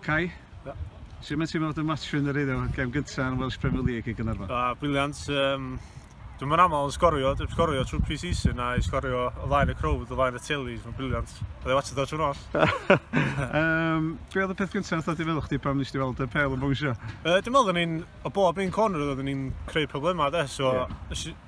Cai? Ie. Sut mae'n teimlo fod y match yn yr eiddo, gem gyntaf yn Welsh Premier League i Gynarfon? Ah, briliant. Um, Dwi'n mynd aml yn sgorio, dwi'n sgorio trwy pre-season a i sgorio o flaen y crowd, o flaen y telis, mae'n briliant. Oedd e watcha dod trwy'n oll. um, be oedd y peth gyntaf oedd wedi fel chdi pam nes ti weld y pel yn bwysio? Uh, dwi'n meddwl oedden ni'n, o bob un corner oedden ni'n creu problemau, de, so yeah.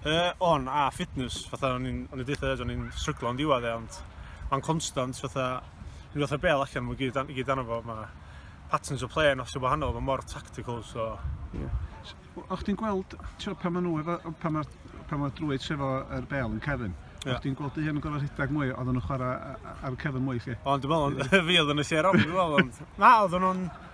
Yy, on, a fitness, fatha o'n i'n o'n i'n deutha o'n i'n stryglo'n diwedd e, ond mae'n constant fatha rhyw fath o bel allan mae'n gyd, i gyd arno fo, mae patterns o play yn os wahanol, mae mor tactical, so... Yeah. O'ch ti'n gweld, ti'n pan maen nhw, efo, pan mae, pan mae drwy trefo yr bel yn cefn, yeah. o'ch ti'n gweld dy hyn yn gorfod rhedeg mwy, oedd nhw'n chwarae ar y cefn mwy, lle? Ond dwi'n meddwl, fi oedd yn y lle rong, dwi'n meddwl, ond... Na, oedd nhw'n...